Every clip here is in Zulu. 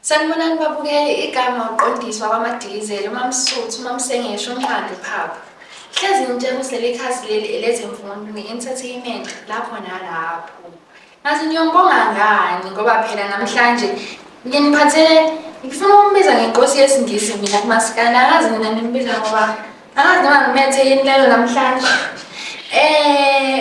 Sanibonani babukeli igama uqondiswa kwamadilizeli umamsuthu umamsengesho umnqandi phapha hlezi ngitshela ukuthi leli khasi leli elezemfundo nge-entertainment lapho nalapho Ngathi niyombonga ngani ngoba phela namhlanje nginiphathele ngifuna ukumbiza ngenkosi yesingisi mina kumasikana akazi mina nimbiza ngoba akazi noma ngimethe yini lelo namhlanje um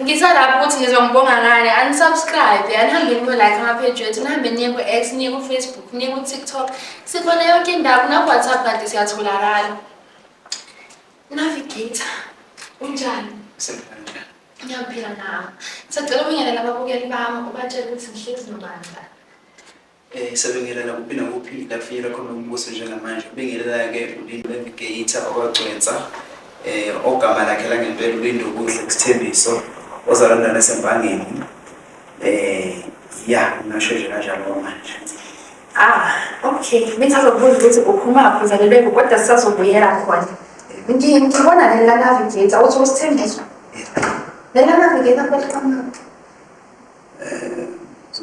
ngisalapho ukuthi ngizongibonga ngani anisubscribe anihambe niyo-like amapheji wethu nihambe niye ku-x niye kufacebook niye kutiktok sikhona yonke indawo nakuwhatsapp kanti siyatholakala Navigator, unjani? Ngisemnandi. Ngiyaphila nawe. Sacela ubingelele ababukeli bami ubatshele ukuthi ngihlezi nobandla. Eh sebingelela kuphi nakuphi la kufinyela khona umbuso njengamanje. Ubingelela-ke uLindo Navigator okwagcwensa eh ogama lakhe langempela uLindo Kuhle Sithembiso ozalana nasempangeni. Eh ya ngasho nje kanjalo manje. Ah, okay. Bengisazobuza ukuthi uphumaphi uzalelwe kuphi kodwa sisazobuyela khona. Ngi- Ngibona leli lanavigator uthi usithembiso. Leli lanavigator futhi kamnandi.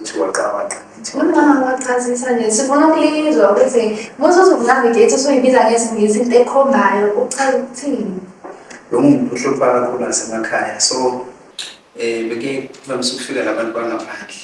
Uthi waqabanga ngithi Uma wachazisa nje sifuna ukulizwa ukuthi muthi uzokunavigate usuyibiza ngesingisi into ekhombayo uchaza ukuthini. lo muntu uhlupha kakhulu nasemakhaya so um beke kuvamise ukufika la bantu bangaphandle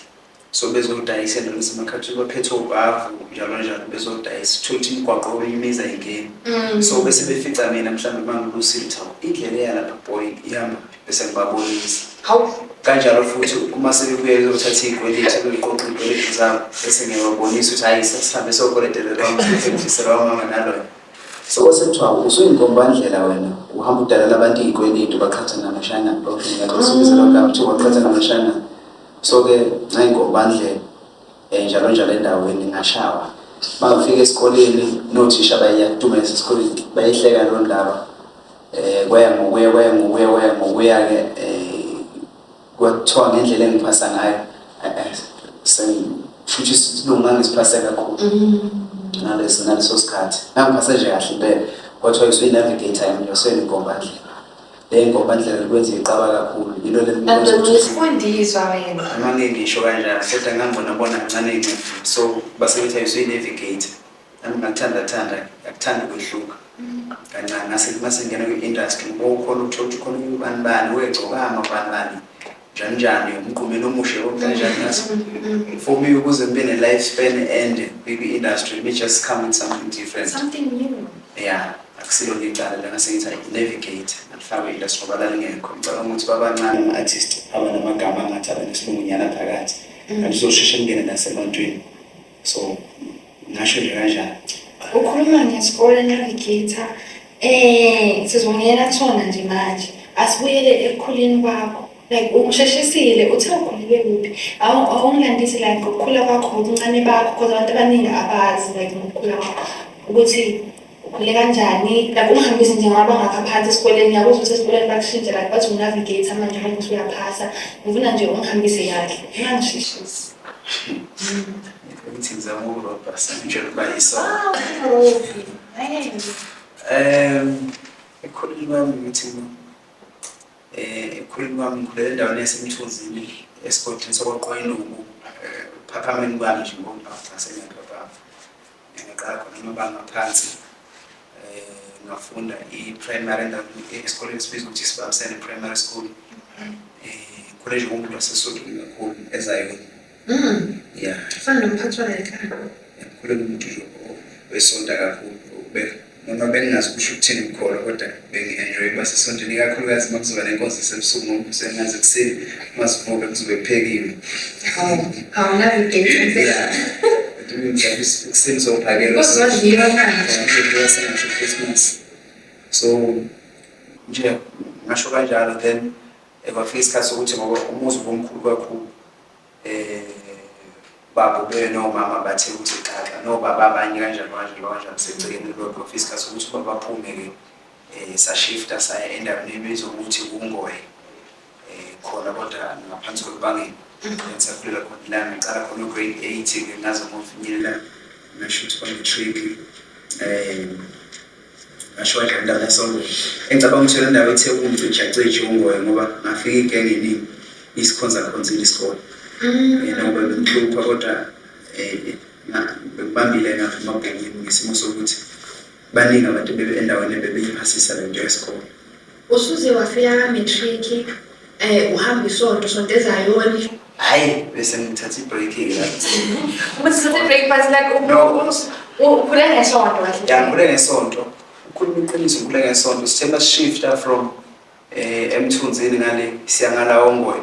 so bezodayisa endaweni esemakhathini baphethe obhavu njalo njalo bezodayisa uthole ukuthi imigwaqo kwenye imizi ayingeni mm. so bese befica mina mhlawumbe mangilusile ukuthi hawu indlela eyalapha boy ihamba bese ngibabonisa hawu kanjalo futhi uma sebebuya bezothatha iy'kweleti beqoqa iy'kweleti zabo bese ngiyababonisa ukuthi hhayi sesihambe sokoletelelwa mfisela wamama naloyo so kwase kuthiwa usuyinkombandlela wena uhamba udalela abantu iy'kweleti ubaqhatha namashana bakunika losubizelwa mm. kuthiwa ubaqhatha namashana so ke ngayingobandle um eh, njalo njalo endaweni ngashawa bangifika esikoleni nothisha bayiyadumeza esikoleni bayihleka loo ndaba um eh, kwaya ngokuya kwaya ngokuya kwaya ngokuya-ke um eh, kwathiwa ngendlela engiphasa ngayo futhi isilungu ngangisipase kakhulu mm. ngaleso ngaleso sikhathi ngangiphase nje kahle impela kwathiwa isuyi-navigator yami yoseni ngombandlela Hey ngoba ndlela kwenza iqaba kakhulu. Yilo leli. Isifundiswa wena. Manje ngisho kanjalo kodwa ngangibona bona kancane incipho. So basebenza yiswe navigate. Nami ngakuthanda thanda, ngakuthanda ukwehluka. Kancane ngase mase ngena kwi-industry ngokukhona ukuthola ukuthi khona ubani bani wegcokama ubani bani. Janjani umqumeni omushe okunjani ngathi for me ukuze ngibe ne life span ende kwi industry let me just come with something different something new yeah akusilo ngicala la ngase ngithi i navigate ngifakwe industry ngoba lalingekho ngicabanga ukuthi babancane ama artist abanamagama angathi abanesilungunyana phakathi kanti mm. uzosheshe ngene nasebantwini so ngasho nje kanjalo ukhuluma ngesikole navigator um sizongena kusona nje manje asibuyele ekukhuleni kwakho like usheshisile uthe ukhulele kuphi awungilandisi like ngokukhula kwakho ngobuncane bakho because abantu abaningi abazi like ngokukhula kwakho ukuthi ukhule kanjani like ungihambise nje ngoba ngapha phansi esikoleni ngiyakuzwa ukuthi esikoleni bakushintshe like bathi unavigator manje manje ukuthi uyaphasa ngifuna nje ungihambise kahle ngangishishisi ukuthi ngizama ukurobha njengoba yisona um ekhuleni kwami ngithi um ekhuleni kwami ngikhulele endaweni yasemthunzini esigodini sokwaqwayiluku eh, phaphameni kwami nje ngoba ngasenyathwa Ngiqala khona amabanga aphansi um ngafunda i-primary endaweni esikoleni esibiza ukuthi sibambisene primary school um khona nje kumuntu waseSotho kakhulu ezayona Mm. ya Fana nomphathi walekhaya. ngikhulele umuntu nje wesonta kakhulu ukube noma bengingazi kusho ukuthini ukukholwa kodwa bengi-enjoy ukuba sesontweni ikakhulukazi uma kuzoba nenkonzo esebusuku ngoba usengazi ekuseni uma sivuke kuzobe kuphekiwe ekuseni zophakelwasengasekhrismas so nje ngasho kanjalo then ekwafika isikhathi sokuthi ngoba umuzi ubomkhulu kakhulu baba ube nomama bathe ukuthi xaxa nobaba abanye kanjani kanjani kanjani segcekeni lodwa ofisi kasi ukuthi ubaba aphume-ke um eh, sashifta saya endaweni ebizwa ukuthi ungoye um eh, khona kodwa ngaphansi kwebangeni ngisakulela khona la ngiqala khona ugrade eight-ke ngaze ngofinyelela ngasho ukuthi kwangitriki um eh, ngasho wadla indawo yasonto engicabanga ukuthi yona ndawo ethe kumntu ijaceje ungoye ngoba ngafika igenge eningi isikhonzakhonzile isikole mm. yena ngoba bengihlupha kodwa um bekubambile ngaphuma bhekini ngesimo sokuthi baningi abantu endaweni ebebeyiphasisa le nto yesikole Usuze wafika ka matric eh uhamba isonto sonto ezayoni. Hayi bese ngithatha ibreak ke la. Uma sithatha break but like ukhule ngesonto kahle. Ya ngikule ngesonto. Ukhuluma iqiniso ngikule ngesonto. Sithemba shifta from eh emthunzini ngale siya ngala ongoye.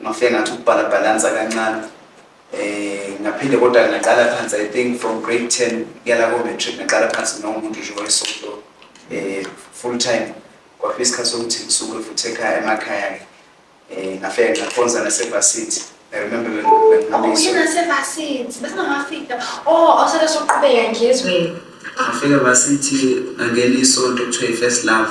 Ngafika ngathi ukubhala balance kancane. Eh ngaphinde kodwa ngaqala phansi I think from grade 10 yala ko matric ngaqala phansi nomuntu nje wayesonto eh full time kwafika isikhathi sokuthi ngisuke futhi ekhaya emakhaya ke eh ngafika ngakhonza nasevasithi I remember when when Oh, ngihambisa- uyena sevasini. Bese ngafika. Oh, osele soqhubeka ngezweni. ngafika vasithi ngangena isonto kuthiwa i-first love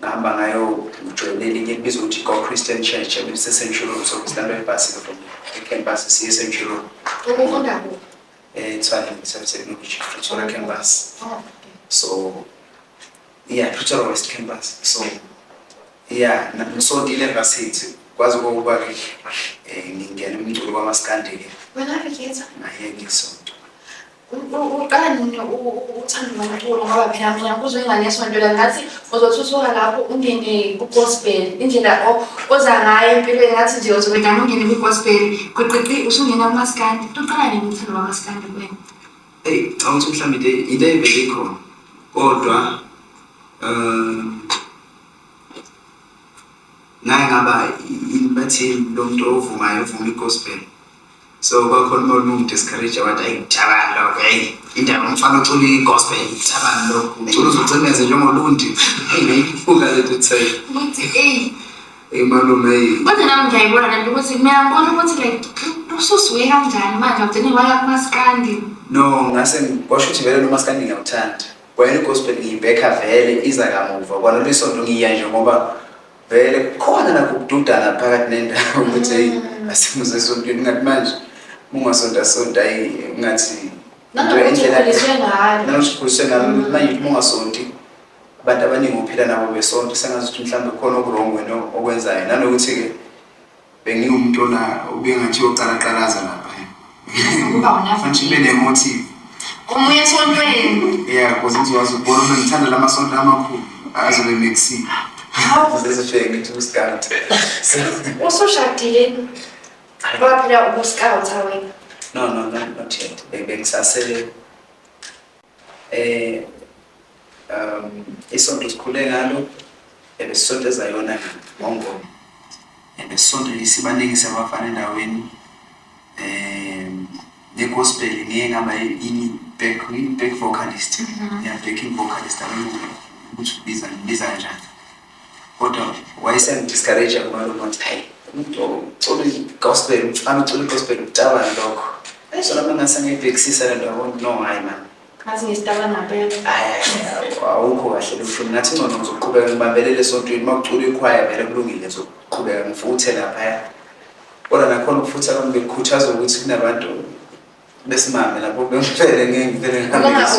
ngahamba ngayo ngijoyine elinye elibizwa ukuthi go christian church ebilisesentshurulu so ngisilamba ebhasini from ecampus siye esentshurulu ubufunda ku eh tswana ngisemsebenzi pretoria campus oh, so yeah pretoria west campus so yeah ngisondile ngasithi kwazi ukuba ke eh, ngingena umculo kwamaskandile wena ke ngiyenza naye ngisonto uqala nini ukuthanda umculo ngoba phela mina kuzwe inganesonto la ngathi uzothuthuka lapho ungene ku-gospel indlela oza ngayo empilweni ngathi nje uzobe ngane ungene kwi-gospel gwiqiqi usungena kumaskandi tuqala nini umthando wamaskandi kuwena eyi canga ukuthi mhlawumbe into into evele ikhona kodwa um naye ngaba bathini lo muntu ovumayo ovuma i-gospel so kwakhona umuntu ungidiscourage wathi ayi ngicabani lokho eyi indaba umfana ocula i-gospel ngicabani lokho ucula uzocineze njengolundi eyibuka lethu say ukuthi eyi imalume eyi kodwa nami ngiyayibona lento ukuthi ngiyabona ukuthi like ususuke kanjani manje ugcine waya kumaskandi no ngase kwasho ukuthi vele nomaskandi ngiyawuthanda kwayena i-gospel ngiyibhekha vele iza kamuva kwanolesonto ngiya nje ngoba vele kukhona nakho ukududana phakathi nendawo ukuthi eyi mm. asimuze esontweni ngathi manje mungasonta sonta ayi ngathi nanosikhuliswe ngalo mm. manje uthi mungasonti abantu abaningi uphila nabo besonta sengazi ukuthi mhlawumbe khona okurongo wena okwenzayo nanokuthi-ke Bengiwumuntu ola ubengathi uyoqalaqalaza lapha. Uba unafa Manje ube nemotive. Omunye esontweni. Yeah, because uzowazi ukubona uma ngithanda la masonto amakhulu. Azobe mixile. Zizisheke ngithi uScout. Usushadile. Waphila ubuskawutha wena. No, no, no, not yet. Be- Bengisase Eh um isonto sikhule ngalo ebesisonto ezayona ngongoma. Ebesisonto lisibaningi sabafana endaweni um ne-gospel ngeke ngaba yini back back vocalist mm -hmm. yeah backing vocalist abengu ukuthi ubiza ngibiza kanjani kodwa wayesengi-discourage-a kumalume wathi hayi umuntu ocula i-gospel umfana ocula i-gospel ucabani lokho hayi zona mina sengiyibhekisisa le nto yabona no hayi mani ngathi ngisitabana mpela awukho kahle loshuni ngathi ngcono ngizoqhubeka ngibambelele esontweni uma kucula ikhwaya vele kulungile ngizoqhubeka ngifuthe laphaya kodwa nakhona ukufutha abantu bekukhuthaza ukuthi kunabantu besimame lapho bengifele ngeke ngifele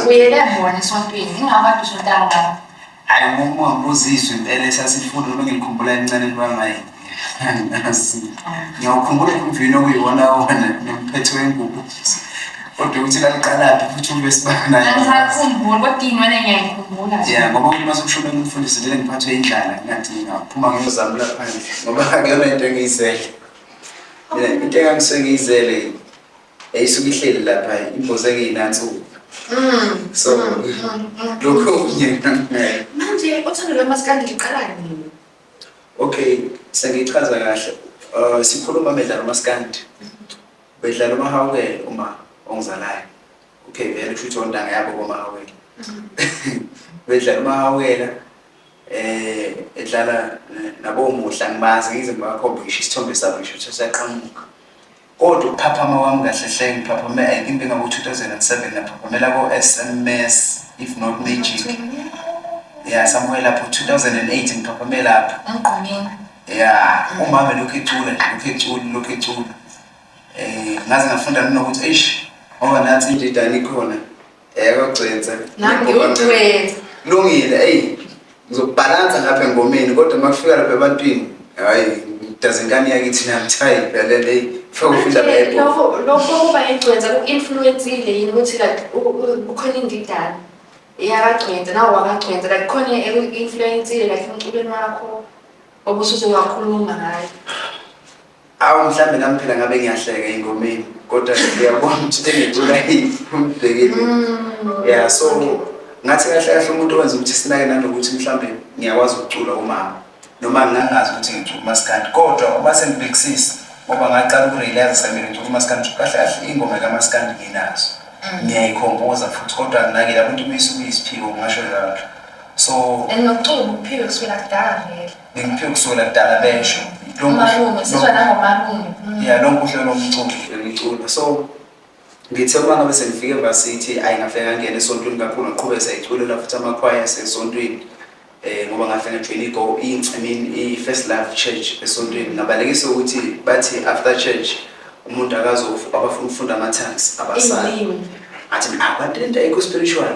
ubuyele bona esontweni ingaba dusho ntanga hayi uma ngibuzizwe impela esasifunda noma ngikhumbula elincane libamaye angazi ngiyawukhumbula umvini okuyiwona wona nomphetho wengubo kodwa ukuthi laliqalaphi futhi ube sibanayoakhumbula kodwa inwele ngiyayikhumbula ya ngoba umuntu uma sekushona umfundisi vele ngiphathwe indlala ngathi ngaphuma ngiyozamula phandle ngoba akuyona into engiyizele mina into engangisengiyizele eyisuke ihleli lapha imbozeke inansuku mm. so lokho kunye manje uthando lwamasikandi liqala nini okay sengichaza kahle uh, sikhuluma bedlala umasikandi bedlala umahawukele uma ongizalayo okay vele kusho ukuthi ontanga yabo komahawukele bedlala umahawukela eh edlala nabomuhla ngibazi ngize ngibakhombe ngisho isithombe sabo ngisho ukuthi siyaqhamuka Kodwa ukuphaphama kwami kahle hle ngiphaphame I think bengaku 2007 naphaphamela ko SMS if not magic. Yeah somewhere lapho 2008 ngiphaphame lapho. Emgqonyeni. Yeah umama lokhu ecula nje lokhu ecula lokhu ecula. Eh ngaze ngafunda mina ukuthi eish ngoba nathi indidane ikhona. Yebo Gcwense. Nami ngiwugcwense. Lungile, eyi ngizokubhalansa ngapha engomeni kodwa uma kufika lapha ebantwini hayi ngidazingane yakithi nami thayi phela leyi fika kufika lapha lokho lokho kuba yigcwense ku-influensile yini ukuthi like kukhona indidana iyakagcwense nawo wakagcwense like khona eku-influensile like emculweni wakho obusuze wakhuluma ngayo Awu mhlambe nami phela ngabe ngiyahleka ingomeni kodwa ngiyabona ukuthi engicula umbhekile. Mm. Yeah so ngathi kahle kahle umuntu owenza ukuthi sinake nanokuthi mhlambe ngiyakwazi ukucula umama noma ngingazi ukuthi ngicula umaskandi kodwa uma sengibhekisisa ngoba ngaqala ukurealize mina ngicula umaskandi kahle kahle ingoma kamaskandi nginazo mm. ngiyayikhompoza futhi kodwa nginake lapho into uma isuke isiphiwo ngingasho njalo so and nokucula ukuphika kusukela kudala vele Ngikuphe kusona kudala besho. Lo malume sizwa nangomalume. Mm. Yeah, lo mbuhle lo mculo. Ngicula. So ngithe uma ngabe sengifike embasithi ayi ngafika ngangena esontweni kakhulu ngaqhubeka sayiculela futhi amakhwaya asesontweni eh ngoba ngahlangana join i go i mean i first love church esontweni ngabalekisa ukuthi bathi after church umuntu akazofu abafuna ukufunda ama tongues abasali athi abantu into ayikho spiritual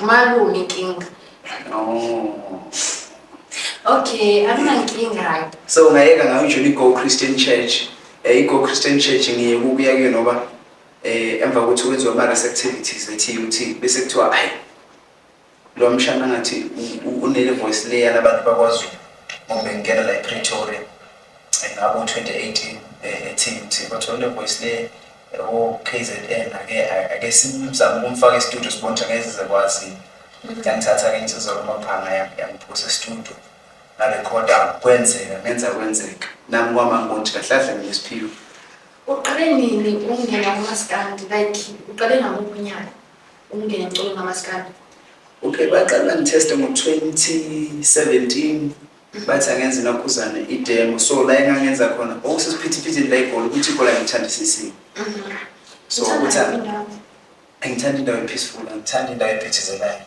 Malume inkinga. Okay, anginankinga. So ungayeka ngayo nje i-Go Christian Church. Eh i-Go Christian Church ngiye kukuya kuyo noba eh emva kokuthi wenziwa ama activities e-TUT bese kuthiwa ayi lo mshana ngathi unele voice layer labantu bakwaZulu ngoba bengena la e-Pretoria ngabo 2018 e-TUT bathola le voice layer KZN ake ake simzame ukumfaka estudio sibone ukuthi ngeke sizekwazi yangithatha ke insizwa kumaphanga yangiphusa estudio ngarekhoda kwenzeka ngenza kwenzeka nami kwama ngothi kahlahle mina siphiwe uqale nini ukungena kumaskandi like uqale ngamuphi unyaka ukungena emculo ngamaskandi okay baqala ngitheste ngo-2017 bathi angenza inakhuzane idemo so la engangenza khona okusesiphithiphithini la ibhola ukuthi ibhola ngithandisisile so ukuthi angithanda indawo epeaceful angithanda indawo ephithizelayo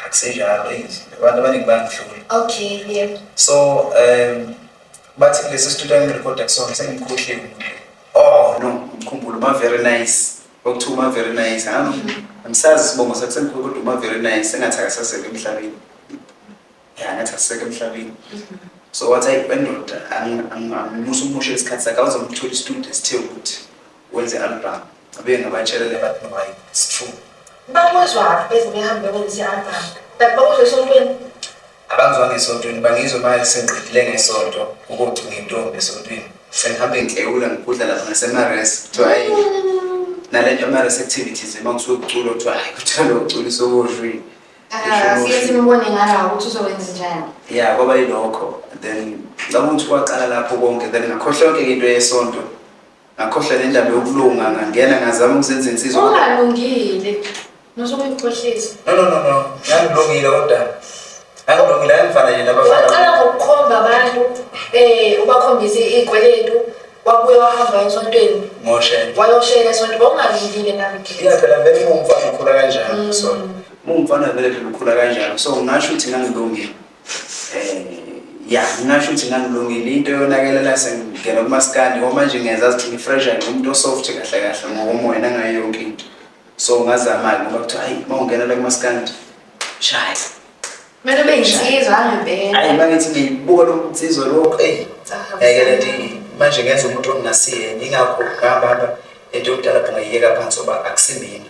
akusenjalo izinto abantu abaningi bangihlula okay yeah so um bathi kulesi studio engirekoda kusona sengimkhohliwe oh no ngikhumbula uma very nice Okuthi uma very nice, ha? Angisazi isibongo sakhe sengikhulu kodwa uma very nice sengathi akasaseke emhlabeni. Ya, ngathi akasaseke emhlabeni. So wathi ayi bendoda ang- ang- angimusa umushe isikhathi sakhe awuzomthola istudio esithe ukuthi wenze album. Abuye ngabatshela le bathi no, ayi, it's true. Bakuzwa beze behambe benze i-album. Kanti bakuzwa esontweni. abangizwanga esontweni bangizwe manje sengiqedile ngesonto ukuthi ngintombi esontweni sengihambe ngihlewula ngigudla lapha ngasemares kuthiwa hayi nale nto amares activities uma kusuke kuculo kuthiwa hayi kuthiwa lo uculisa okoshwini siye simbone ngalawo ukuthi uzokwenza njani ya kwaba yilokho then ngicabanga ukuthi kwaqala lapho konke then ngakhohlwa yonke into yesonto Ngakhohlwa nendaba yokulunga ngangena ngazama ukuzenza insizwa. Ungalungile. Nosokuyikhohlisa. No no no no. Ngangilungile kodwa. Ngangilungile angifana nje nabafana. Waqala ngokukhomba abantu eh ubakhombise izikweletu wabuye wahamba esontweni. Ngoshela. Wayoshela esontweni bongalungile nami. Iya phela vele umfana ukhula kanjani mm. so. Umfana vele phela ukhula kanjani so ngasho ukuthi ngangilungile. ya ngingasho ukuthi ngangilungile into yonakela la sengingena kumaskandi ngoba manje ngenza ukuthi ngifresh ngiwumuntu osoft kahle kahle ngokomoya nangayo yonke into so ngazama-ke ngoba kuthiwa hayi uma ungena la kumaskandi shaya kumele ube yinsizwa angempela hayi mangithi ngiyibuka lo nsizwa lo eyi yayike le nto manje ngenza umuntu onginasiye yingakho ngihamba hamba into yokudala phungayiyeka phansi oba akusimina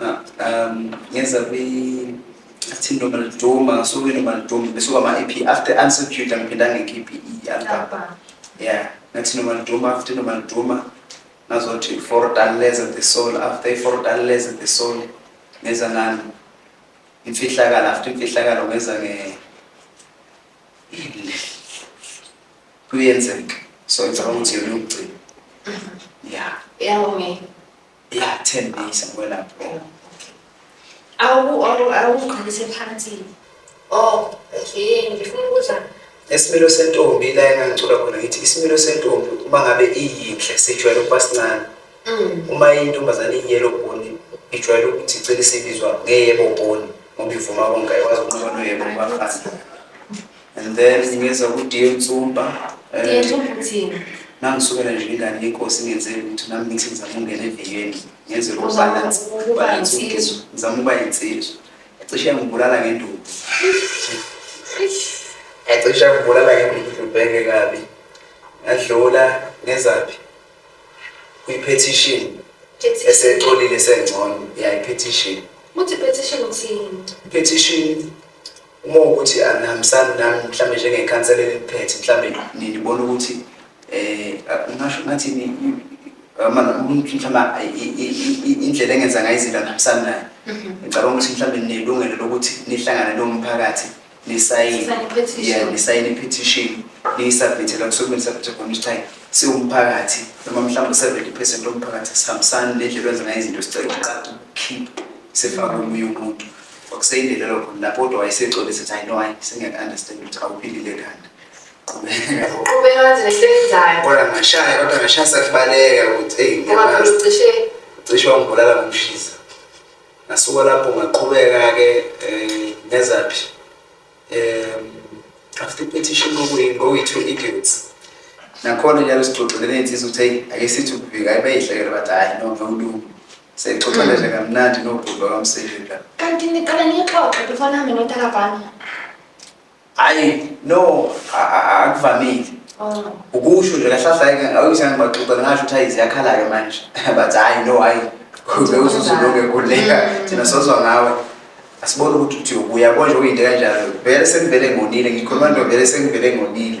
um ngenza kwi athi noma liduma so ke noma liduma bese kwama EP after unsecurity ngiphinda ngikhiphe i-album yeah ngathi noma liduma after noma liduma ngazothi fortaleza the soul after fortaleza the soul ngenza ngani imfihlakalo after imfihlakalo ngenza nge kuyenzeka so ngicabanga ukuthi yona yokugcina mm-hmm. yeah yeah okay Iyathembisa ukwelapha. Awuqinise phansi. Oh, yini ngifuna ukuza esimilo sentombi la engangicula khona ngithi isimilo sentombi uma ngabe iyinhle sijwayele ukuba sincane mm. uma intombazane iyiyelo boni ijwayele ukuthi igcine sibizwa ngeyebo boni ngoba ivuma konke ayikwazi ukunqoba noyebo kubafana and then ngeza kudiye nsumpa diye nsumpa uthini nangisukela nje ingane yenkosi ngenzele ukuthi nami ngithi ngizama ungena eviyeni ngenze lo balance balance ukizo ngizama uba insizwa ecishe ngibulala ngenduku ecishe ngibulala ngenduku ngibheke kabi ngadlula ngezaphi kwi-petition esecolile sengcono ya i-petition uthi petition uthini petition uma ukuthi anihambisani ah, nami mhlawumbe njengekhansela eliphethe mhlawumbe nibona ukuthi um ngasho ngathi indlela engenza ngayo izinto angihambisani nayo mhm. ngicabanga ukuthi mhlawumbe ninelungelo lokuthi nihlangane nomphakathi nisayine i-petition niyisabhithe la kusuke nisabhithe khona ukuthi hayi siwumphakathi noma mhlawumbe u-seventy percent lomphakathi sihambisani nendlela wenza ngayo izinto sicela ukuqala ukukhipha sifake omunye umuntu kwakuseyindelelo khona lapho kodwa wayesexolisa ukuthi i know i singeke understand ukuthi awuphilile kanti qhubeka wenze lento eyenzayo kodwa ngashaya kodwa ngashaya sakubaleka ukuthi eyi ngiyabazi cishe cishe wangibulala ngomshisa ngasuka lapho ngaqhubeka-ke um nezaphi um after petition ngokuyi-two idiots nakhona njalo sixoxele ney'nsiza ukuthi eyi ake sithi ukuvika ayibeyihlekele bathi hhayi no ngiwulungu Seyixoxa nje mm. kamnandi nobhuti wakamsika. Kanti niqala niyixoxe before nihambe notalabhana. Hayi no akuvamile. Oh. Ukusho nje kahlahleke awuyise ngibaxoxa ngasho ukuthi ayizi yakhala-ke manje. But hayi no hayi. Kuze ususuloke kuleka mm. thina sozwa ngawe. Asibone ukuthi uthi ubuya konje uyinto kanjalo. Vele sengivele ngonile ngikhuluma nto vele sengivele ngonile.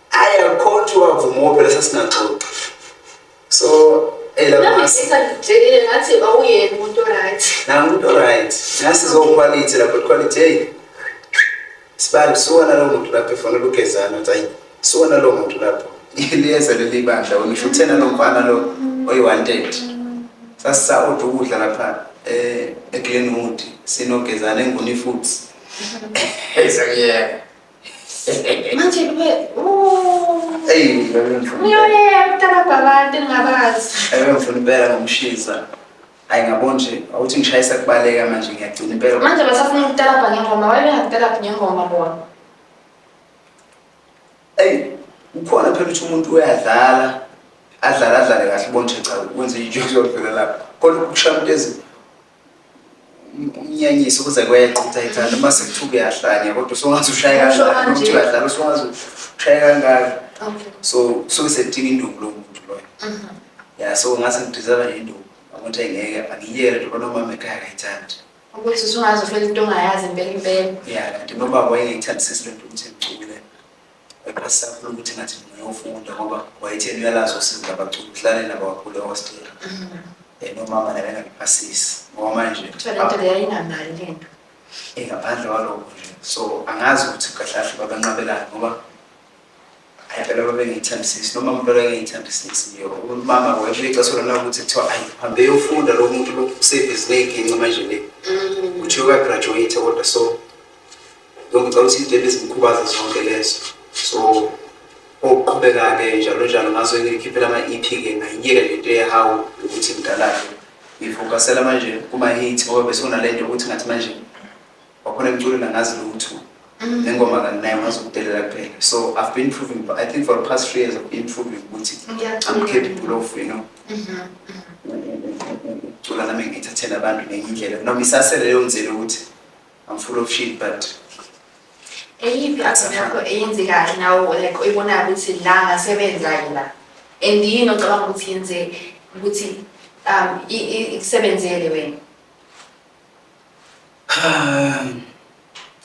Ayi akhothi wavuma phela sasinaxoxa. So elamasa. Ngitshele ngathi awuyena umuntu right. Na umuntu right. Nasi zo quality lapho quality hey. Sibali suwana lo muntu lapho efuna ukugezana uthi ayi suwana lo muntu lapho. Liyeza leli bandla wena usho uthena lo mfana lo oyi wanted. Sasa uthi ukudla lapha eh eGlenwood sinogezana enguni futhi. Hey sakuyeka. manje kube eyi ngiyoye kuqala kwabantu engingabazi ebengifuna impela ngomshisa hayi ngabo nje awuthi ngishayisa kubaleka manje ngiyagcina impela manje basafuna ukutalabha ngengoma wayebengakutalabhi ngengoma bona eyi ukhona phela ukuthi umuntu uyadlala adlale adlale kahle bonje cha kwenze ijozodlula lapho kodwa ukushaya umuntu ezini umnyanyisi ukuze kweqe ukuthi ayithanda uma sekuthiwa uyahlanya kodwa usungaze ushaye kangaka ukuthi uyadlala usungaze ushaye kangaka so kusuke sekudinga induku lowo muntu loyo mhm. ya so ngase ngidizela nje induku ukuthi ngeke angiyele njengoba nomama ekhaya akayithandi ukuthi usungaze ufela into ongayazi impela impela ya kanti nomama wayengeyithandi sisi lento ukuthi ngicule Eqasakho ukuthi ngathi ngiyofunda ngoba wayetheni uyalazi usizi labaculi udlale nabo kakhulu ehostela um nomama naye engakuphasisi ngoba manje Talente leyo ayinamali lento. ingaphandle kwalokho nje so angazi ukuthi kahle kahle babanqabelani ngoba ayi phela babengiyithembisisi noma umuntu akengiyithembisisi nje umama wayesho ixesha lona ukuthi kuthiwa ayi hambe yofunda lo muntu lo usebhizi ney'ginci manje le kuthiwa uyagraduate kodwa so so ngicela ukuthi izinto ebezimkhubaza zonke lezo so okuqhubeka-ke njalo njalo ngazo ngikhiphela ama-ep-ke ngayiyeke le nto yehawu ukuthi mdalake ngifokasela manje kuma-hit ngoba besunale nto ukuthi ngathi manje wakhona emculo nangazi lutho mm. nengoma kanginaye ngazi ukudelela kuphela so i've been proving i think for the past three years i've been proving ukuthi i'm capable of you know mm-hmm, mm-hmm. ukucula nami ngithathela abantu ngenye indlela noma isasele leyo nzela ukuthi I'm full of shit but eyiphi action yakho eyenzekayo nawo like oyibonayo ukuthi la ngasebenza yila and yini ocabanga ukuthi yenze ukuthi um i- i- ikusebenzele wena Um,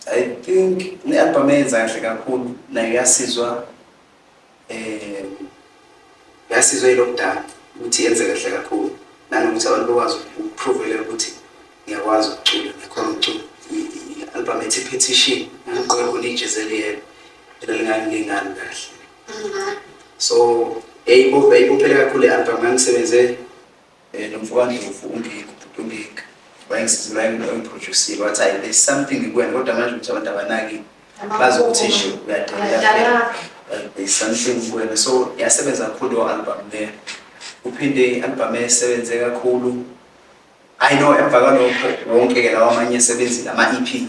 I think ne-album eyenza kahle kakhulu nayo yasizwa eh yasizwe lockdown ukuthi yenze kahle kakhulu nanokuthi abantu bakwazi ukuprove ukuthi ngiyakwazi ukucula ngikhona ukucula i-album ethi petition ngiqobo lijezeliyelo elingangingani kahle so eyibo eyibophele kakhulu i-album ngangisebenze Eh, lo mfo wandlovu ungiki ubhuti ungiki wayengisiza wayengena wayengiprodusile wathi hayi there's something kuwena kodwa manje ukuthi abantu abanaki bazi ukuthi nje uyadelela there's something kuwena so yasebenza kakhulu leyo album leyo uphinde i-album esebenze kakhulu i know emva kwalokho wonke-ke lawa amanye esebenzile ama-e p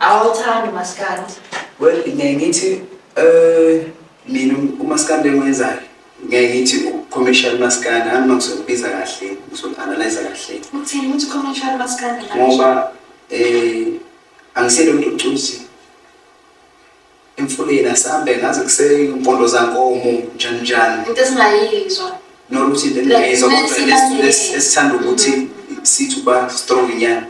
Awuthandi umaskandi? Well, ngeke ngithi eh mina umaskandi engwenzayo ngeke ngithi commercial maskandi hhayi uma ngizokubiza kahle ngizoku-analyza kahle Uthini ukuthi commercial maskandi manje? ngoba eh angisele umuntu ocuzi emfuleni asambe ngaze kusempondo zankomo njani njani into esingayizwa nokuthi into engingayizwa kodwa esithanda ukuthi sithi uba strong nyana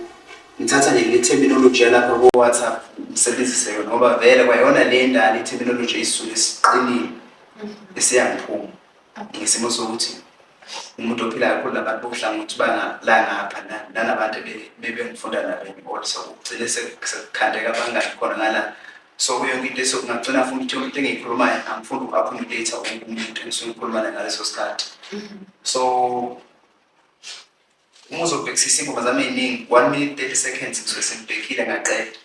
ngithatha nje le terminology yalapha ko-whatsapp ngisebenzise yona ngoba vele kwayona le ndala i-terminology eyisisuke esiqinile esiyangiphuma ngesimo sokuthi umuntu ophilayo khona abantu bokuhlangothi bangalangapha nanabantu bebengifunda nabo enkolo so kugcine sekukhandeka abangani khona ngala so kuyo yonke into esokungagcina funa ukuthi umuntu engiyikhulumayo angifuni uku-accommodate wonke umuntu engisuke ngikhuluma naye ngaleso sikhathi mm-hmm. so uma uzobhekisisa ingoma zami ey'ningi one minute thirty seconds ngisuke sengibhekile ngaqeda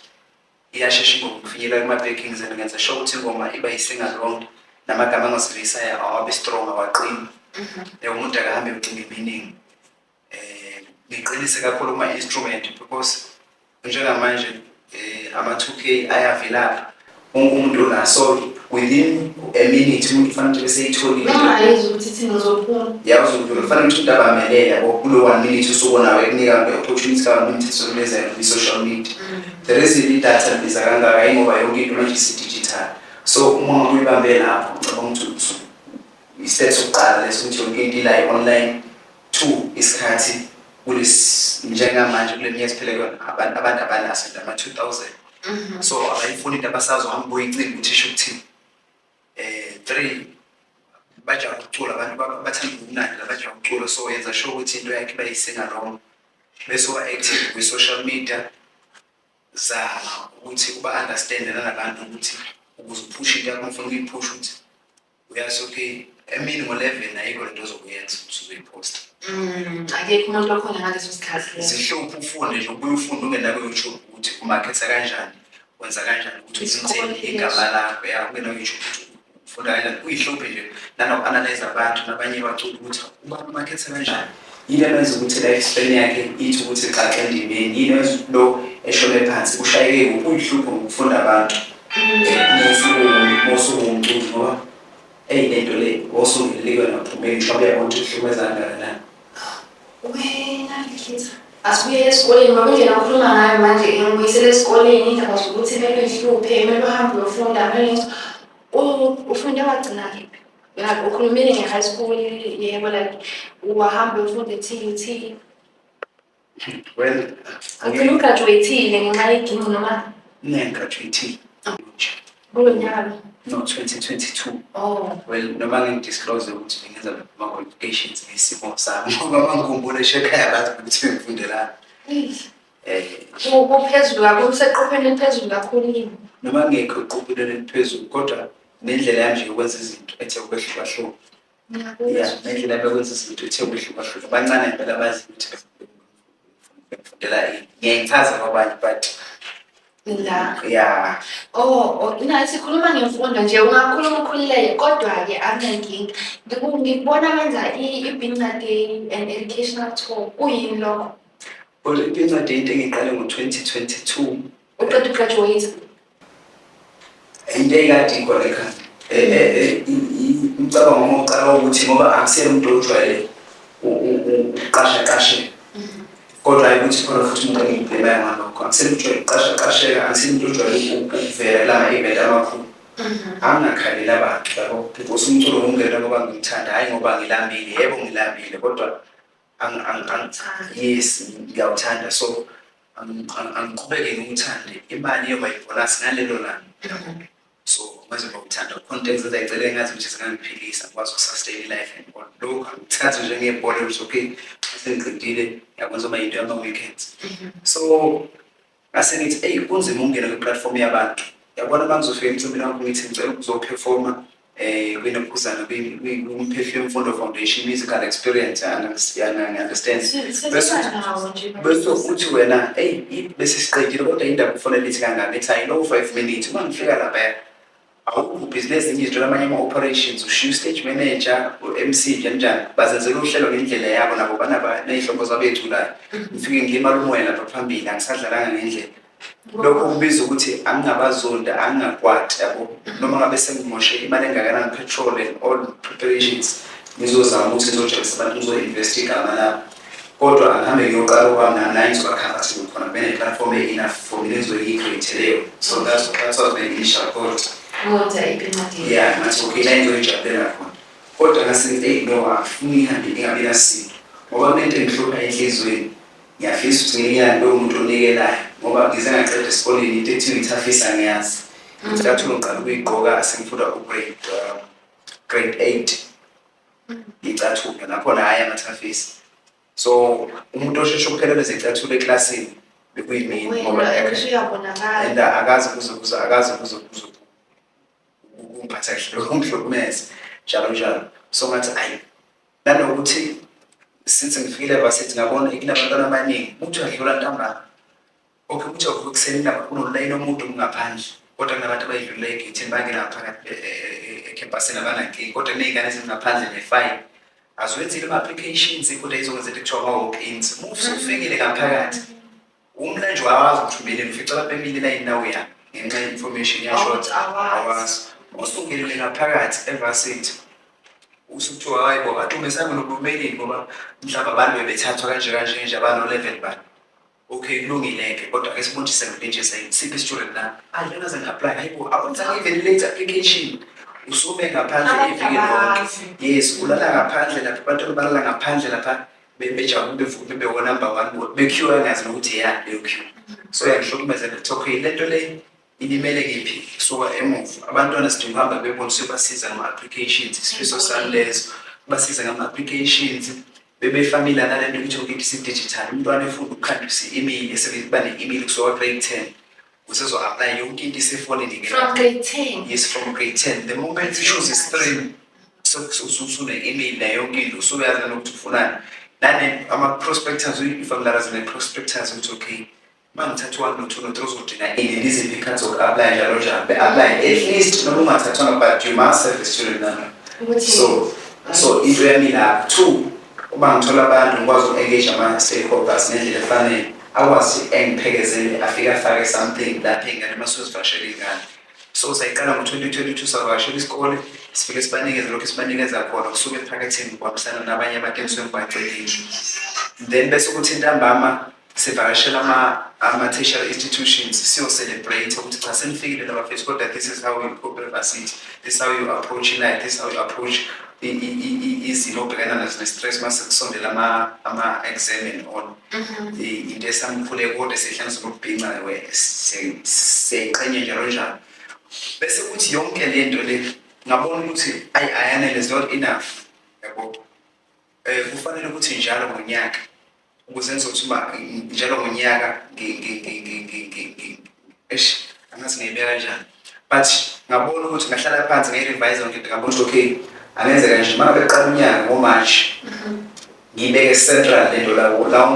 iyashesha ingoma ukufinyelela kuma-backings and ngenza sure ukuthi ingoma iba yi-single long namagama angosiveyisayo awabe strong awaqini um umuntu akahambe ucinga iminingi um ngiqinise kakhulu kuma-instrument because njengamanje um ama-two k ayavilapha wonke umuntu unaso within a minute umuntu kufanele ukuthi beseyitholile noma ayizwa ukuthi thina uzophuma yazi ukuthi kufanele ukuthi umuntu abamelele yabo kulo one minute usuku nawe ekunika le opportunity ka minute sokuleza kwi social media mm. there is the data biza kangaka ingoba yonke into manje si digital so uma umuntu uyibambe lapho ngicabanga ukuthi istep sokuqala leso ukuthi yonke into ila online two isikhathi kulesi njengamanje kule minyaka siphele kuyona abantu abantu abanaso ama 2000 so abayifuni into abasazohamba boyincinga ukuthi isho ukuthini um three bajaha ukucula abantu bathanda ubumnandi labajaha ukucula so yenza sho ukuthi into yakhe bayisingalongo bese uba-active kwi-social media zama ukuthi uba-understande nalabantu ukuthi ukuze uphushe into yakho ngifuna ukuyiphusha ukuthi uyasuke emini ngo-11 ayikho lento ozokuyenza usuzoyiposta mm, akekho umuntu okhona ngaleso sikhathi zihluphe ufunde nje ubuye ufunde ungena ku-youtube ukuthi umakhetha kanjani wenza kanjani ukuthi uthinthe igama lakho ya ungena ku-youtube ukuthi ufunda kanjani kuyihluphe nje nanoku-analyze abantu nabanye bacula ukuthi ubani umakhetha kanjani Yini emenza ukuthi life span yakhe ithi ukuthi xaxa endimeni? Yini emenza ukuthi lo eshone phansi? Ushayeke kuphi? Uyihlupho ngokufunda abantu. Mosuwumculi ngoba eyi lento le osungelele kuyona uphumeni ngisho uyabona ukuthi kuhlumeza kangakanani. Wena ngikhetha asibuye esikoleni ngoba indlela okhuluma ngayo manje ngibuyisele esikoleni indaba zokuthi kumele ngihluphe kumele uhambe uyofunda kumele ufunda wagcina kephi Like ukhulumile nge-high school yebo like wahambe ufunde TUT. Well, Ugcine ugraduate-ile ngenxa yeginci noma ngigraduate kulo nyaka lo. no 2022. Oh. Well, noma ngidisclose ukuthi bengenza ama qualifications ngesimo sami ngoba bangikhumbule ekhaya bathi ukuthi ngifundelani. Eish. kuphezulu kakhulu useqopheni eliphezulu kakhulu yini noma ngekho eqopheni eliphezulu kodwa nendlela yanje yokwenza izinto ethe ukwehlukahluka ya nendlela yokwenza izinto ethe ukwehlukahluka bancane impela bazi ukuthi befundela yini ngiyayichaza kwabanye but la ya oh ina oh, sikhuluma ngemfundo nje ungakhuluma ukhululeke kodwa-ke anginenkinga ngikubona wenza i-binqade and educational tour kuyini lokho Kodwa incwadi yinto engiqale ngo-2022. Uqeda ugraduate? Into eyikade ikhona ekhanda. Eh, eh, eh, umcabango wami wokuqala ukuthi ngoba angisele umuntu ojwayele ukuqashaqasheka mm-hmm. kodwa hayi ukuthi khona futhi umuntu engiyibhemayo ngalokho angisele umuntu ojwayele ukuqashaqasheka angisele umuntu ojwayele ukuvela la ma-event amakhulu Mm-hmm. angingakhaleli abantu yabo because umculo ngumngena ngoba ngimthanda hhayi ngoba ngilambile yebo ngilambile kodwa yes ngiyawuthanda so angiqhubeke ngiwuthande imali iyoba ibholasi ngalelo langa so manje ngokuthanda content ezayicela engazi ukuthi zingangiphilisa ngikwazi ukusustain life and all lokhu angithathe njengebhola ukuthi okay sengiqedile yakwenza uba yinto yama-weekends so ngase ngithi eyi kunzima ukungena kwi-platform yabantu yabona uma ngizofika emcimbini wakho ngithi ngicela ukuzophefoma um eh, kwinophuzana kumphehlo yemfundo foundation musical experience understand bese uthi wena eyi bese siqedile kodwa indaba ufonela ithi kangaka ithi ayi lowo five minutes uma ngifika lapha awukho ubhizi nezinye izinto namanye ama-operations ushiya ustage manager u-mc njanjani bazenzela uhlelo ngendlela yabo nabo banaba ney'hlobo zabo ey'culayo ngifike ngilimala umoya lapha phambili angisadlalanga ngendlela lokho kubiza ukuthi angingabazonda angingakwati yabo noma ngabe sengimoshe imali engakanani petrol and all preparations ngizozama ukuthi ngizojabulisa abantu ngizo-invest igama labo Kodwa angihambe ngiyoqala okwami nami naye ngizoba comfortable khona kube ne-platform e-enough for mina engizobe ngiyi-create leyo. So that's that's what my initial thought. Kodwa ipincadi. Yeah, ngathi okay la engizoyijabulela khona. Kodwa ngasengithi eyi no angifuni ngihambe ngingabi nasinto ngoba kunento engihlupha enhliziyweni. Ngiyafisa ukuthi ngelinye ilanga lowo muntu onikelayo ngoba ngize ngaqeda esikoleni into ethi ngithafisa ngiyazi. Ngithi kathula ngiqala ukuyigqoka sengifunda ugrade uh, grade eight. ngicathuke ngakhona hhayi amathafisi so umuntu osheshe ukuphelelwa zicathulo eklasini bekuyimini ngoba and akazi kuzokuza akazi kuzokuza kumphatha kahle lokho ngihlukumeze njalo njalo so ngathi ayi nanokuthi since ngifikile vasithi ngabona kunabantwana abaningi umuntu adlula ntambama Okay ukuthi avuka ekuseni lapho kunolayini omude ongaphandle kodwa kunabantu abayidlulula egethini bangena ngaphakathi e- e- e- ekhempasini abanankinga kodwa kuney'ngane ezingaphandle ne-five aziwenzile ama-applications kodwa izokwenza into ekuthiwa ama-walk-ins uma usufikile ngaphakathi umlanji wawazi ukuthi umeleni ufica abantu bemile elayini nawe ya ngenxa ye-information yashort Awuthi awazi. awazi usungenile ngaphakathi evasithi usukuthiwa hayi bo badume sange nokumeleni ngoba mhlawumbe abantu bebethathwa kanje kanje nje abano-eleven bani Okay kulungile ke kodwa ke sibonjise ngempintshe sayini siphi isitshuleni na? Hayi ngeke ze ngi-apply hayibo awenzanga even late application. Usume ngaphandle Abantu iviki lonke. abazi. Yes ulala ngaphandle lapha abantu balala ngaphandle lapha be- bejabule bevume bewona number one bekhiwa ngazi nokuthi ya leyo khiwa. So yangihlukumeza ngithi okay lento le Ilimele kephi? Suka emuva. Abantwana sidinga ukuhamba bebona siyobasiza ngama-applications. Isifiso sami lezo. Basize ngama-applications. Bebefamile nale nto ukuthi yonke into isidigital. Umntwana efunda ukukhandisa i-email, esebeba ne-email kusuka grade 10. Usezo-aplaya yonke into isefonini ke. From grade 10. Yes, from grade 10. The moment you choose i-stream, usune-email nayo yonke into, usuyazi nanokuthi ufunani. Nane ama-prospectors, uyifamilarize ne-prospectors ukuthi okay, uma ngithathwa nothunothe uzodinga ini liziphi ikhathi zoku-aplaya njalo njalo be-aplaye at least noma ungathathwanga but you must have a student number so so into yami lapho two uma ngithola abantu ngikwazi uku-engage ama-stakeholders ngendlela efanele akwazi engiphekezele afike afake something lapho ingane uma sozivashela ingane so sayiqala ngo-2022 savakashela isikole sifike sibanikeze lokhu sibanikeza khona kusuke ephaketheni kuhambisana nabanye abantu engiswe ngibagcelile then bese ukuthi intambama sivakashela ama-tertiary institutions siyo-celebrate ukuthi cha senifikile labafethu kodwa this is how you cope university this is how you approach life this is how you approach izimo obhekana nazo ne-stress uma sekusondela ama-exam and on mm-hmm. into esamkhule kodwa esihlane sokubhinca siyayiqhenye njalo njalo bese kuthi yonke le nto le ngabona ukuthi ayi ayanele is not enough yabo um kufanele ukuthi njalo ngonyaka ukuze ngizothi uma njalo ngonyaka eish angazi ngiyibeka kanjani but ngabona ukuthi ngahlala phansi ngeyi-revise yonke into ngabona ukuthi okay angenzeka nje uma ngabe qala unyaka ngomarch mhm. ngiyibeke central lento lawo lawo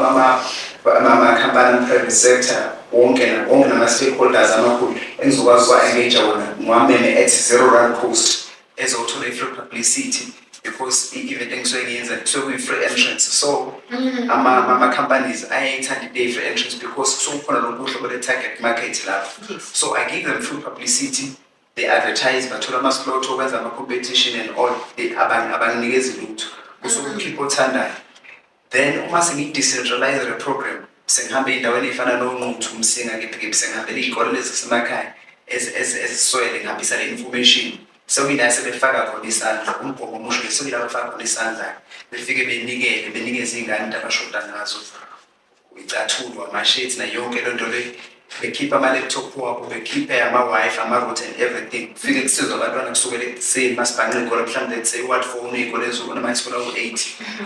amakhampani ama-private sector wonke wonke nama-stakeholders amakhulu engizokwazi uwa-engage wona ngiwameme at zero run post ezothola i-free publicity because i-event engisuke ngiyenza kusuke kuyi-free entrance so mm. ama-companies ayayithanda into eyi-free entrance because kusuke kukhona lo buhlo bole-target market lapho so i give them free publicity they advertise bathola ama-slot okwenza ama-competition and all abanginikezi lutho kusuke ukhipha mm. othandayo Then uma sengiyi-decentralize le program sengihambe ey'ndaweni ey'fana nonquthu umsinga kipikip sengihambela iy'kole lezi zasemakhaya eziswele ngihambisa le information sekuyila sebefaka khona isandla umgomo omusho le sekuyila befaka khona isandla befike benikele benikeze iy'ngane into abashoda ngazo icathulo amashethi nayo yonke loo nto leyo bekhiphe ama-laptop wabo bekhiphe ama-wifi ama-route and everything kufike kusizwa abantwana kusukela ekuseni masibhanqa iy'kole mhlawumbe lethe i-ward phone iy'kole ezokona manje sikole ku-eight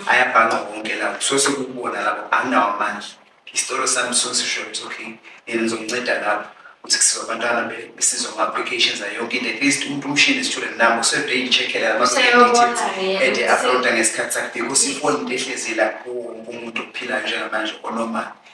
ayabhanqa wonke lawo kusuke sekukubona lapho anginawo amandla isitolo sami sisuke sisho ukuthi okay yena ngizomnceda lapho ukuthi kusizwa abantwana besizwa ngama-applications ayo yonke into at least umuntu umshini student nami usevele yichekhela ade uploada ngesikhathi sakhe because ifoni into ehlezi lapho wonke umuntu ophilayo njengamanje onomali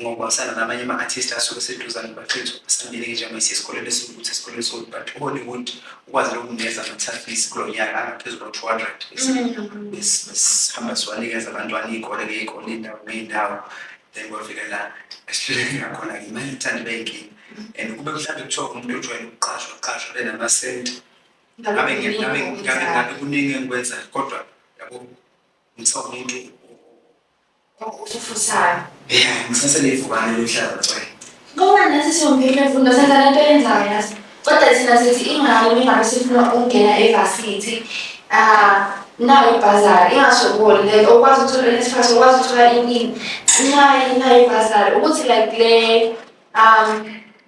ngokubambisana namanye ama-artist asuke seduzane baxinisa ukusambile njengoba isesikoleni esiwukuthi esikoleni esiwukuthi but uhollywood ukwazi lokunikeza ama-tafis kulo nyaka angaphezu kwa-two hundred besihamba siwanikeza abantwana iy'kole ngey'kole iy'ndawo ngey'ndawo then kwafika la esihluleke ngakhona ngimanye ithandi beyinkinga and kube mhlawumbe kuthiwa umuntu ojwayele ukuqashwa qashwa benamasenti ngabe ngabe ngabe kuningi engikwenzayo kodwa yabo ngithiwa umuntu Usufusayo. Yeah, ngisase levukane lomhlaba cwe. Ngoba nathi siwumphile mfundo senza lento yenzayo yazi. Kodwa thina sithi ingane ningabe sifuna ukungena evarsity. Ah, nayo ibhazari ingasho kuwona le okwazi ukuthola inesiphathi okwazi ukuthola iningi. Nayo nayo ibhazari ukuthi like le um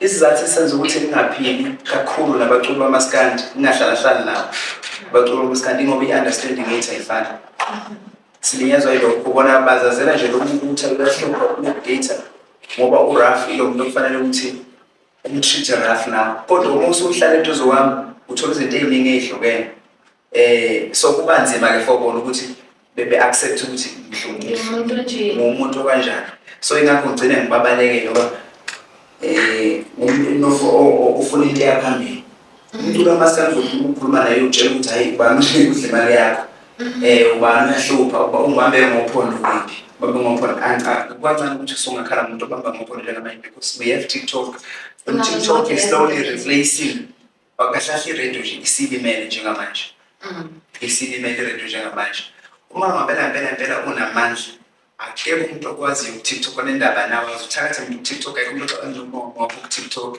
Isizathu esenza ukuthi ngingaphili kakhulu nabaculi bamaskandi ngingahlalahlali nabo abaculi bamaskandi ingoba i-understanding yethu ayifani silinyazwa yilokho bona bazazela nje lokubuthutha uyahlupha uku-data ngoba uraf ilo muntu okufanele ukuthi umtreat raf nawo kodwa uma usuhlala eduze kwami uthola izinto ey'ningi ey'hlukene eh so kuba nzima ke for bona ukuthi bebe accept ukuthi ngihlonishwe ngumuntu kanjani so ingakho ngigcine ngibabaleke ngoba eh umuntu ofuna into yaphambili umuntu kamaskandi ukukhuluma naye utshela ukuthi hayi ubani udla imali yakho mm-hmm. eh ubani uyahlupha uba ungibambe ngophondo kuphi babe ngophondo angicaci kwancane ukuthi usungakhala umuntu obamba ngophondo njengamanje because we have tiktok and tiktok is slowly replacing Bakahlahla iredio nje isilimele njengamanje. Mm. Isilimele iredio njengamanje. Uma ngabela ngempela ngempela unamandla akekho umuntu okwaziyo ku-tiktok onendaba nawe azuthathe umuntu ku-tiktok akekho umuntu ocabanza umama ku-tiktok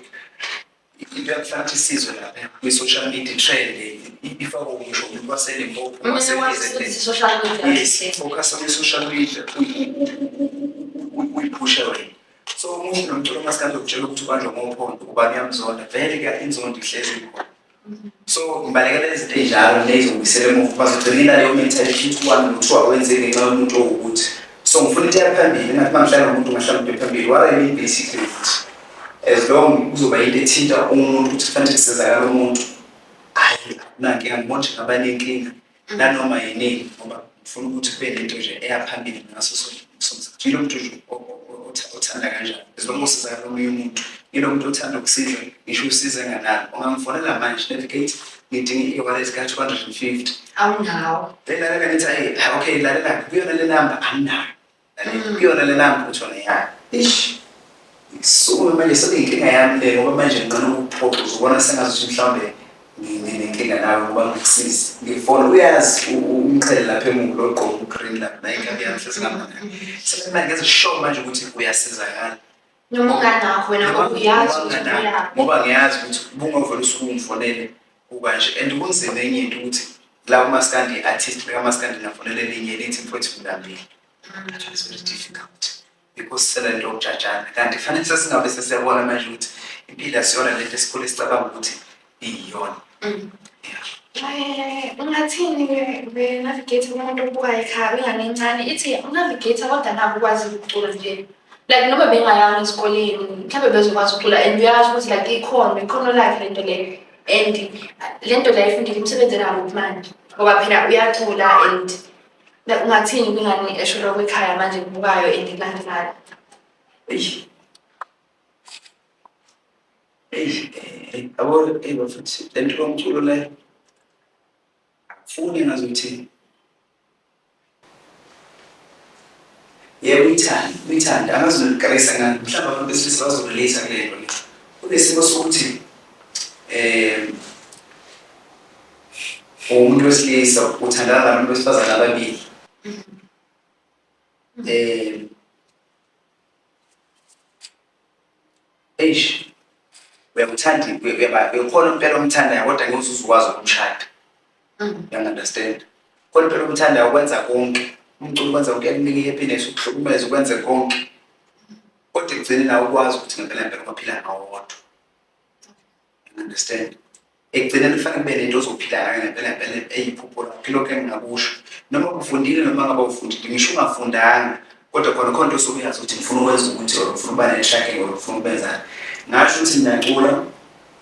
into yakufana ukuthi isizwe lapha kwi-social media trend ifakwa ngisho umuntu waselimpopo waseizofokasa kwi-social media uyiphushe wena so umuhle nomculo masikade ukutshela ukuthi ubanjwa ngophondo kuba kuyamzonda vele ke inzondo ihlezi ikhona so ngibalekela izinto ey'njalo ney'zobuyisela emuva uba zigcina ilaleyo mental shift wami nokuthiwa kwenzeke ngenxa yomuntu owukuthi so ngifuna into yaphambili ngathi uma ngihlala nomuntu ngahlala umuntu ephambili what i mean basically ukuthi as long kuzoba yinto ethinta umuntu ukuthi kufanele kusizakala umuntu hhayi akunankinga ngibona nje ngabanenkinga nanoma yinini ngoba ngifuna ukuthi kube nento nje eya phambili ngaso sonke somzimba yilo muntu nje othanda kanjani as long as usiza omunye umuntu yilo muntu othanda ukusiza ngisho usize nganani ungamfonela manje navigate ngidinga i-wallet ka-two hundred and fifty awunawo belalela ngithi ayi okay lalela kuyona le namba anginayo Naliyona lena mphutho leyana. Ish. Ngisukume manje sekuyinkinga yami le ngoba manje nginqena ukuphoxa uzobona sengazi ukuthi mhlawumbe nginenkinga nawe ngoba ngikusize. Ngifona uyazi umqhele lapha emuva lo ogqoke ugreen lapha naye inkabi yami hlezi ngambona. Sekumina ngeze sure manje ukuthi uyasizakala. noma unganakho wena ngoba uyazi ukuthi uyaphi ngoba ngiyazi ukuthi ubungavele usuke ungifonele ukanje and kunzima enye into ukuthi la umaskandi i-artist bekamaskandi nafonele elinye elithi mfowethu ngilambile mm. that was very difficult because selento okujajana kanti fanele sesingabe sesiyabona manje ukuthi impilo asiyona lento esikhule sicabanga ukuthi iyona Eh, ungathini ke be-navigate kumuntu obuka ekhaya ingane encane ithi unavigate kodwa nabo ukwazi ukucula nje like noma bengayanga esikoleni mhlawumbe bezokwazi ukucula and uyazi ukuthi like ikhono ikhono lakhe le nto leyo and le nto leyo ifundile umsebenzi enakuphi manje ngoba phela uyacula and like ungathini kwingane esholo kwekhaya manje kubukayo and kulandelayo eish yabo eyi bafethu le nto yomculo le akufuni ngazi ukuthi yebo uyithanda uyithanda angazi nokukarisa ngani mhlawumbe abantu besilisa bazorelate kule nto le kunesimo sokuthi um umuntu wesilisa uthandana nabantu besifazane ababili um Eish. Uyakuthanda uyakhona impela umthandayo kodwa ngeke uzuzukwazi ukumshada. Mm. You understand? Khona impela umthandayo ukwenza konke. Umculo ukwenza konke ekunika i-happiness ukuhlukumeza ukwenze konke. Kodwa ekugcineni awukwazi ukuthi ngempela ngempela ubaphila ngawodwa. understand ekugcina kufanele kube nento ozophila ngayo ngempela ngempela eyiphupho lakho ilokho engingakusho noma ufundile noma ngabe ufundile ngisho ungafundanga kodwa khona khona into osuke uyazi ukuthi ngifuna ukwenza ukuthi or ngifuna ukuba nenhlahla or ngifuna ukwenzani ngasho ukuthi ngiyacula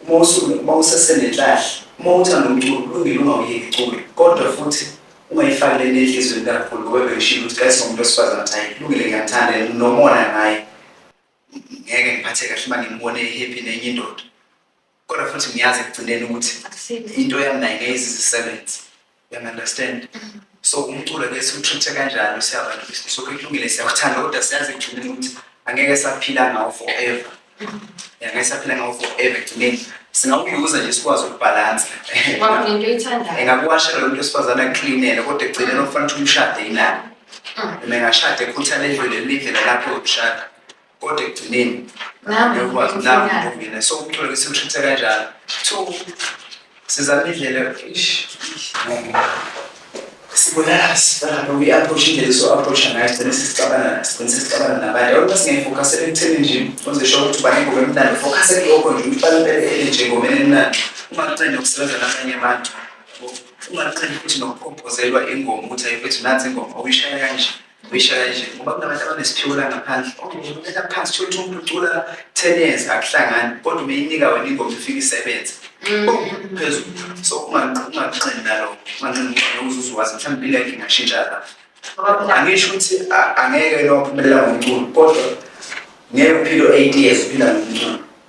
uma usuke uma usesenenhlahla uma uthanda umculo kulungile ungawuyeki icula kodwa futhi ungayifaki le nenhlizweni kakhulu ngoba bengishilo ukuthi kayise umuntu wesifazane ukuthi hayi kulungile ngiyathanda nomona ngaye ngeke ngiphathe kahle uma ngimbone ehappy nenye indoda kodwa futhi ngiyazi ekugcineni ukuthi into yami naye ngeke izizisebenze uyangi-understand so umculo ke siwutreat-e kanjalo siyabantu besilisa so kulungile siyakuthanda kodwa siyazi ekugcineni ukuthi angeke saphila ngawo forever ngeke saphila ngawo forever ekugcineni singawuyuza nje sikwazi ukubhalansa engakuwashela lo mntu wesifazane akucleanele kodwa ekugcineni okufanele ukuthi umshade yinani mengashada ekhuthana edlule elindlela lapho yokushada kodwa ekugcineni ngiyokwazi nawo mina so ukuthola ukuthi ushithe kanjalo so sizama indlela sibulala sibulala uyi-approach indlela eso-approacha ngayo sigcine sesicabana sigcine sesicabana nabantu abantu basingayifokasele ekutheni nje uzesho ukuthi ubani ngoba emnandi fokasele lokho nje uqala impela ele nje ngomeni emnandi ungakuncende ukusebenza nabanye abantu ungaqali futhi nokukhompozelwa ingoma ukuthi ayifethu nansi ingoma uyishaya kanje uyishaya kanje ngoba kunabantu abanesiphiwo la ngaphandle okumela phansi thola umuntu ucula ten years akuhlangani kodwa umeyinika wena ingoma ifike isebenze mm. oh, phezulu so unganqini naloko unganqini ngoba uzuze wazi mhlawumbe impilo yakhe ingashintsha lapho angisho ukuthi angeke lophumelela ngomculo kodwa ngeke uphile eight years uphila ngomculo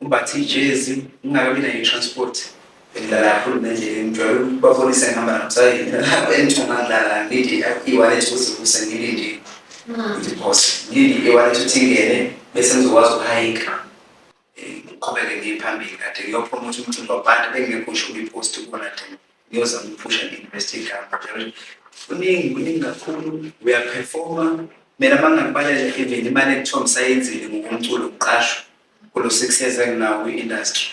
Umbathe ijezi, ngingakabi nayo i-transport. Bengidlala kakhulu nendlela ngijwayele ukubabonisa ngihamba nomsayini lapho engithunga ngidlala ngilinde i-wallet kuze kuse ngilinde idiphose ngilinde i-wallet ukuthi ingene bese ngizokwazi ukuhayika ngiqhubeke ngiye phambili kade ngiyophuma ukuthi umcimbi wabantu bengingekho ngisho kwi-post kubona de ngiyozama ukuphusha nge-university camp kuningi kuningi kakhulu uyaphefoma mina uma ngingakubalele even imali ekuthiwa ngisayenzile ngokomculo ngiqashwa kulo six years enginawo kwi-industry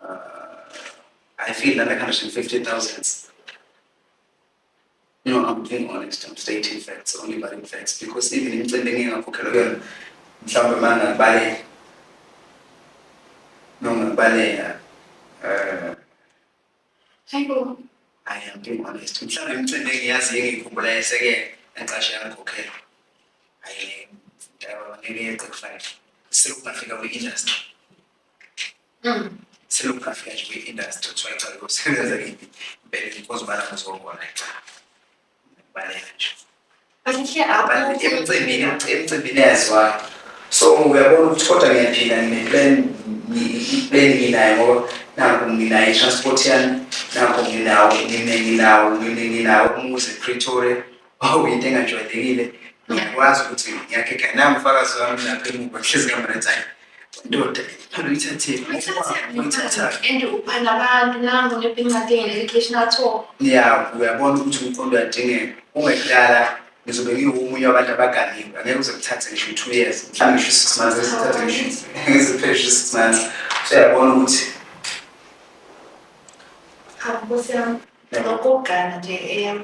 uh, i feel that like 150000 no i'm being honest i'm stating facts only but in facts because even imicimbi engingakhokhelwa kuyona mhlawumbe uma ngabaleka noma ngibaleka um uh, Hayibo. Hayi yampilo honest. Mhlawumbe imicimbi engiyazi engikhumbula yeseke naqashe yangikhokhela. Hayi mdala ngeke yeqe kufanele. Selokungafika kwi-industry. Mm. Selokungafika nje kwi-industry kuthiwa icala kusebenza kimi. Bese ngikwazi ubana ngizobona icala. emcimbini emcimbini yazwa so uyabona ukuthi kodwa ngiyaphila ngine-plan i-plan nginayo ngoba nakho nginayo i-transport yami nakho nginawo nginawo nginawo umuzi epretoria wawuyinto engajwayelekile ngiyakwazi ukuthi ngiyakhe khaya nangifakazi wami lapho emuva hlezi kamretayo ndoda phela uyithathile uyithathile and uphanda abantu nangu nebhincadi educational tour ya uyabona ukuthi umqondo uyadingeka ungekudala ngizobe ngiwumunye wabantu abaganiwe angeke uze kuthathe ngisho two years mhlawumbe ngisho six months esithathe ngisho ngiziphele ngisho six months so yabona ukuthi nkosi yami ngokugana nje eyam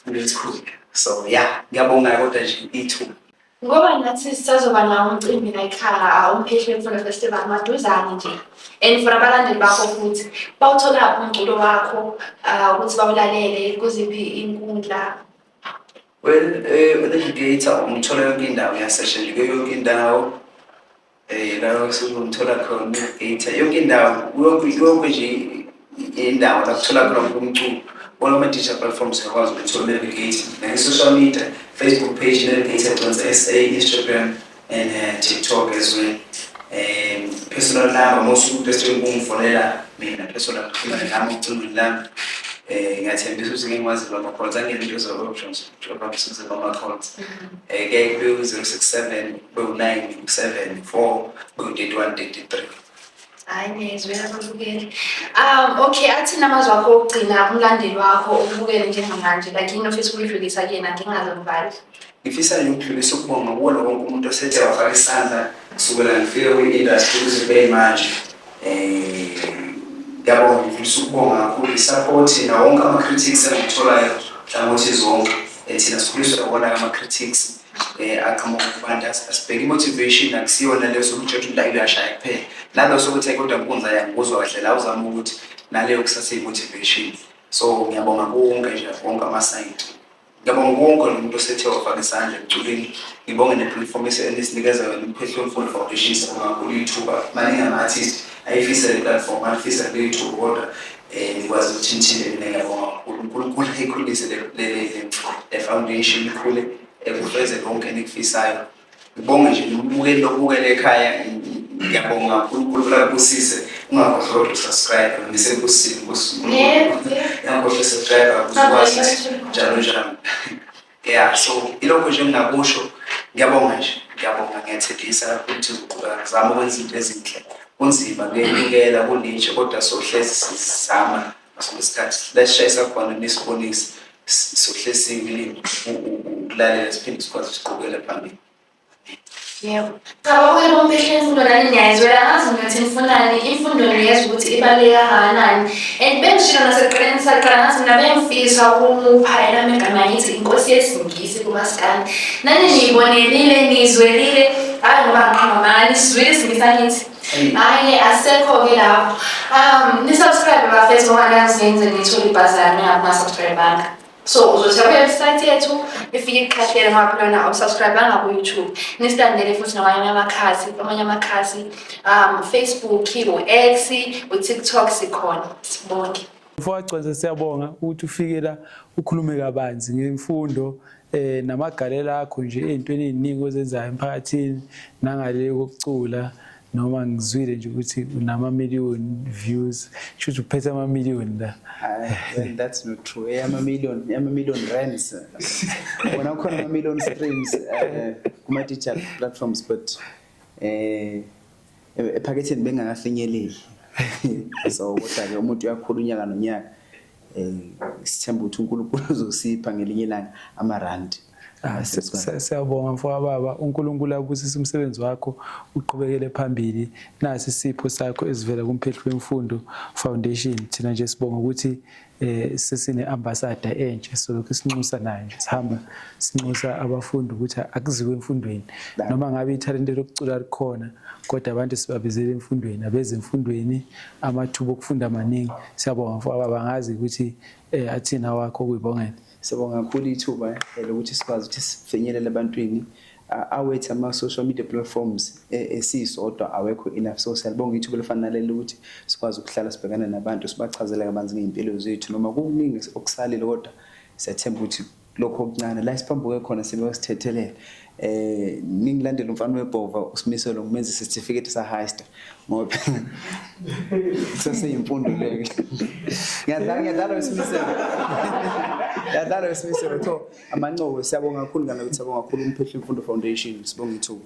ngizikhulile so ya ngiyabonga kodwa nje ithuba Ngoba nathi sisazoba nawo umcimbi layikhaya uMphehli Mfula Festival maduzane nje and for abalandeli bakho futhi bawutholaphi umculo wakho ah, ukuthi bawulalele kuziphi inkundla Well, eh, uNavigator umthola yonke indawo uyasesha nje kuyo yonke indawo. Eh la usumthola khona data yonke indawo yonke yonke nje indawo la kuthola khona umculo all ama digital platforms yakwazi ukuthola navigate nge social media Facebook page navigate Jonsa SA Instagram and uh, TikTok as well um personal number most of the students ungifonela mina personal number ngicela ngami eh ngathembisa ukuthi ngikwazi lokho kodwa ngeke ngizokwazi Robinson Bamakhonza um ke bewu-zero six seven bewu-nine seven four bewu-thirty one thirty three Hayi ngizwe ababukeli. Um okay athi namazwi akho okugcina umlandeli wakho ubukele njengamanje like yini ofisa ukuyidlulisa kuyena ngingazi ngibali. ngifisa nje ukudlulisa ukubonga kuwona wonke umuntu osethe wafaka isandla kusukela ngifike kwi-industry kuze kube yimanje Ngiyabonga ngifisa ukubonga kakhulu i-support nawo wonke ama-critics engikutholayo nhlangothi zonke. Thina sikhuliswa iwona ama-critics aqhamuka kubantu. Asibheki i-motivation akusiyona le yokuthi utshelwe ukuthi umdlali uyashaya kuphela. Nalo sokuthi hhayi kodwa Nkunzi hhayi angikuzwa kahle la uzama ukuthi naleyo kusasa iyi-motivation. So ngiyabonga kuwo wonke nje wonke ama-side. Ngiyabonga kuwonke umuntu osethe wafaka isandla ekuculeni. Ngibonge ne-platform enisinikeza yona uPhethu Mfundo Foundation sibonga kakhulu ithuba. Maningi ama-artist ayifisa le platform alifisa kule ithuba kodwa um nikwazi ukuthi nithile mina ngiyabonga kakhulu. UNkulunkulu ayikhulise le foundation ikhule ekufeze konke enikufisayo. Ngibonge nje nokubukela nokubukela ekhaya ngiyabonga uNkulunkulu akubusise ungakhohlwa ukusubscribe ngisebusini ungakhohlwa usubscribe uzokwazi njalo njalo yeah so ilokho nje engingakusho ngiyabonga nje ngiyabonga ngiyathethisa ukuthi uqhuba ngizama ukwenza izinto ezinhle kunzima kuyekela kunitshe kodwa sohlezi sizama sonke isikhathi lesishayisa khona nisibonise sohlesiwe ilimi ukulalela siphinde sikwazi siqhubekele phambili yebo cabanga ukuthi bomfihla imfundo nani niyayizwela ngazi ngiyothi nifunani imfundo niyezwa ukuthi ibaluleke kangakanani and bengishilo nasekuqaleni ngisaqala ngathi mina bengifisa ukumupha elami igama ngithi inkosi yesingisi kumasikani nani niyibonelile niyizwelile hhayi ngoba ngiqhama mani sizwile isingisi angithi Hayi asekho ke lapho. Um ni subscribe bafethu ngoba nazi ngenze ngithola ibhazana ngapha subscribe banga. So uzothi kwi website yethu ifike iqhathele ngapha lona awusubscribe banga ku YouTube. Ni standele futhi namanye amakhasi, amanye amakhasi um Facebook, u X, u TikTok sikhona. Sibonke. Mfowacweze siyabonga ukuthi ufike la ukhulume kabanzi ngemfundo eh namagalela akho nje ezintweni eziningi ozenzayo emphakathini nangale kokucula noma ngizwile nje ukuthi unama million views shuthi uphethe ama million la and that's not true eh ama million ama million rands wona khona ama million streams eh, kuma digital platforms but eh ephaketheni bengakafinyeleli so kodwa ke umuntu uyakhula unyaka nonyaka um sithemba ukuthi unkulunkulu uzosipha ngelinye ilanga amarandi Ah, siyabonga mfoka baba uNkulunkulu abusise umsebenzi wakho uqhubekele phambili nasi isipho sakho esivela kumphehli wemfundo foundation thina nje sibonga ukuthi eh sesine ambassador entsha so lokho sinxusa nayo nje sihamba sinxusa abafundi ukuthi akuziwe emfundweni noma ngabe ithalente lokucula likhona kodwa abantu sibabizele emfundweni abeze emfundweni amathuba okufunda maningi siyabonga mfowaba bangazi ukuthi um athini awakho kuyibongela siyabonga kakhulu ithuba eh, lokuthi sikwazi ukuthi sifinyelele ebantwini awethu ama-social media platforms e, esiyisodwa awekho enough so siyalibonga ithuba elifana naleli lokuthi sikwazi ukuhlala sibhekane nabantu sibachazele kabanzi ngey'mpilo zethu noma kukuningi okusalile kodwa siyathemba ukuthi lokho okuncane la siphambuke khona sibe sithethelela eh ningilandela umfana webhova usimiselo ngimenza certificate sa highest ngoba saseyimfundo leyo ngiyadlala ngiyadlala usimiselo ngiyadlala usimiselo tho amancobo siyabonga kakhulu ngalokuthi siyabonga kakhulu umphehla imfundo foundation sibonga ithuba